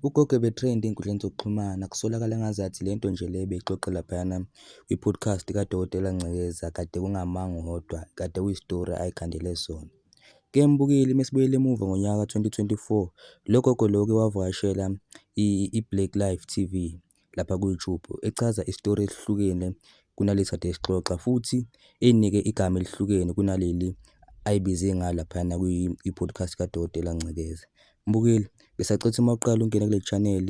Ugogo ebe-trend ey'nkundleni zokuxhumana kusolakala ngazathi lento nje le ebeyixoxa laphayana kwi-podcast kaDokotela Ngcekeza kade kungamanga uwodwa kade kuyisitori ay'khandele sona. Ke ngibukile mesibuyela emuva ngonyaka ka-2024 logogo lo uke wavakashela i-Blaqlife TV lapha ku-YouTube echaza isitori esihlukene kunalesi kade sixoxa futhi eyinike igama elihlukene kunaleli ayibize ngalo laphayana kwi-podcast kaDokotela Ngcekeza. Mbukeli, ngisacela uma uqala ungene kule channel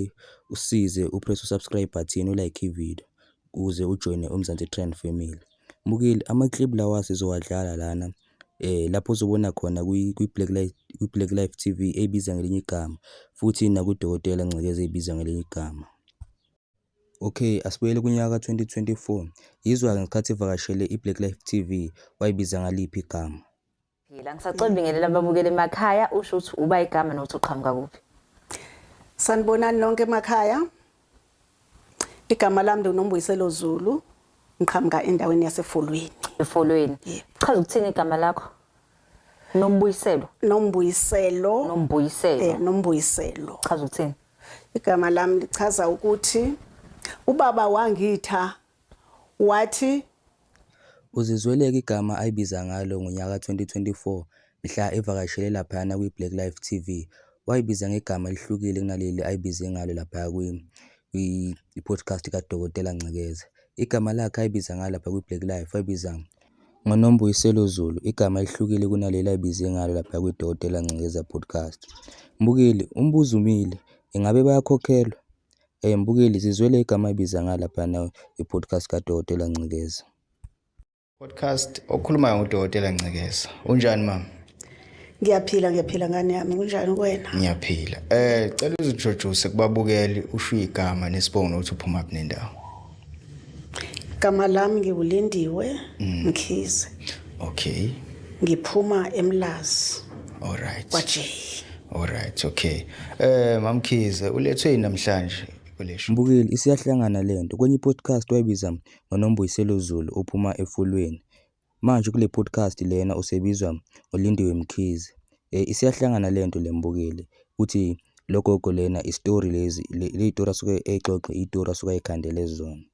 usize upress u-subscribe button ulike ividiyo ukuze ujoyine uMzansi Trend Family. Mbukeli, ama-clip lawa sizowadlala lana lapho ozobona khona kwi-Black Life, kwi-Black Life TV eyibiza ngelinye igama futhi nakudokotela Ngcekeza eyibiza ngelinye igama. Okay, asibuyele kunyaka ka-2024. Yizwa-ke ngesikhathi evakashele i-Black Life TV wayibiza ngaliphi igama? Phila, ngisacela ubingelela ababukeli emakhaya usho ukuthi uba igama nokuthi uqhamuka kuphi. Sanibonani nonke emakhaya. Igama lami ngiNombuyiselo Zulu, ngiqhamuka endaweni yaseFolweni. EFolweni. Chaza ukuthini igama lakho? Nombuyiselo. Nombuyiselo. Nombuyiselo. Eh, Nombuyiselo. Chaza ukuthini? Igama lami lichaza ukuthi ubaba wangitha wathi. UZizweleka igama ayibiza ngalo ngonyaka ka-2024 mhla evakashele laphayana kwiBlack Life TV, wayibiza ngegama elihlukile kunaleli ayibize ngalo laphaya kwi-podcast kaDokotela Ngcekeza. Igama lakhe ayibiza ngalo lapha kwiBlack Life wayibiza ngoNombuyiselo Zulu, igama elihlukile kunaleli ayibize ngalo laphaya kwiDokotela Ngcekeza Podcast. Mbukeli, Umbuzo umile, Ingabe bayakhokhelwa? Eyi mbukeli zizwele igama ayibiza ngalo laphana i-podcast kadokotela Ncikeza. Podcast okhulumayo ngudokotela Ncikeza. Unjani mama? Ngiyaphila ngiyaphila ngane yami kunjani kuwena? Ngiyaphila. Eh cela uzintroduce kubabukeli usho igama nesibongo nokuthi uphuma kuphi nendawo. Gama lami ngiwulindiwe mm. Mkhize. Okay. Ngiphuma eMlazi. All right. Kwaje. All right, okay. Eh mamkhize ulethwe namhlanje kolesho. Mbukeli isiyahlangana lento. Kwenye podcast wayibiza ngoNombuyiselo Zulu ophuma efulweni. Manje kule podcast lena usebizwa ngoLindiwe Mkhize. Eh, isiyahlangana le nto le mbukeli ukuthi lo gogo lena isitori lezi le le yitori asuke eyixoxe iyitori asuke ayikhandele zona.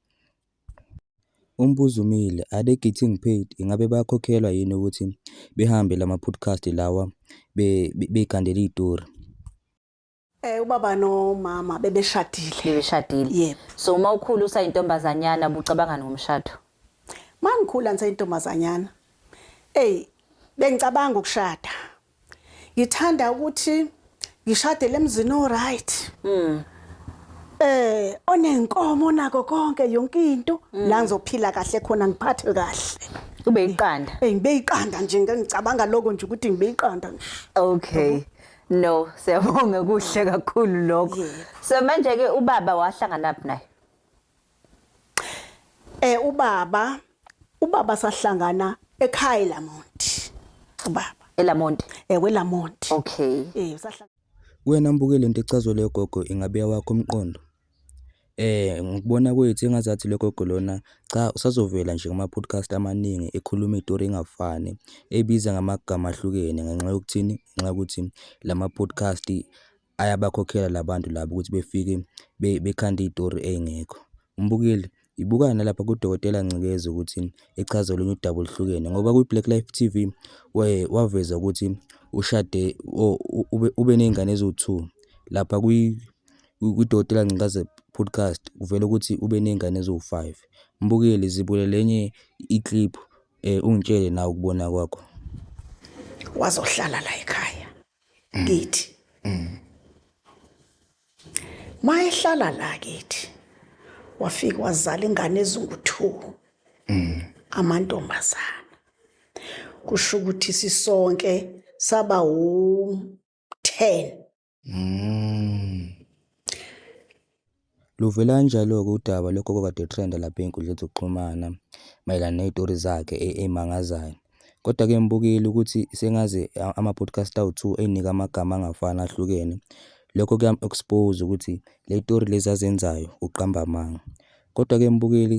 Umbuzo umile, are they getting paid? Ingabe bayakhokhelwa yini ukuthi behambe lama-podcast lawa be- be- bey'khandela iyitori? Eh ubaba nomama bebeshadile. Bebeshadile. Yep. So uma ukhula usayintombazanyana bucabangani ngomshado? Mangikhula ngisayintombazanyana. Ey bengicabanga ukushada. Ngithanda ukuthi ngishade lemzini o right. Mm. Eh onenkomo nako konke yonke into mm. la ngizophila kahle khona ngiphathwe kahle. Ube iqanda. Ey ngibe iqanda nje ngicabanga lokho nje ukuthi ngibe iqanda nje. Okay. No, siyabonga kuhle kakhulu lokho. Yebo. So manje ke ubaba wahlangana phi naye? Eh ubaba ubaba sahlangana ekhaya Lamont. Ubaba ELamonti. eh weLamont. Okay. Eh sahlangana Wena mbuke lento echazwe leyo gogo ingabe yawakho umqondo. Ngokubona kwethu engazathi lo gogo lona cha usazovela nje kuma-podcast amaningi ekhuluma iy'tori ey'ngafani ebiza ngamagama ahlukene ngenxa yokuthini? Ngenxa yokuthi lama-podcast ayabakhokhela labantu laba ukuthi befike bekhande iy'tori ey'ngekho. Umbukeli Yibuka nalapha kuDokotela Ngcikeza ukuthi echaza olunye udaba oluhlukene ngoba kwi-Black Life TV we- waveza ukuthi ushade o- u- ube- ube nezingane eziwu-two. Lapha kwi- kwi- kwiDokotela Ngcikaze podcast kuvela ukuthi ube nezingane eziwu-five. Mbukeli zibulele enye i-clip um ungitshele nawe ukubona kwakho. wazohlala la ekhaya kithi mayehlala la kithi wafika wazala ingane ezingu-two mm. amantombazana kusho ukuthi sisonke saba wu-ten mm. Luvela kanjalo-ke udaba logogo okade etrenda lapha ey'nkundleni zokuxhumana mayelana ney'tori zakhe ey'mangazayo. Kodwa-ke ngibukile ukuthi sengaze ama-podcast awu-two ey'nike amagama angafani ahlukene. Lokho kuyamu-expose ukuthi ley'tori lezi azenzayo uqamba amanga. Kodwa-ke ngibukile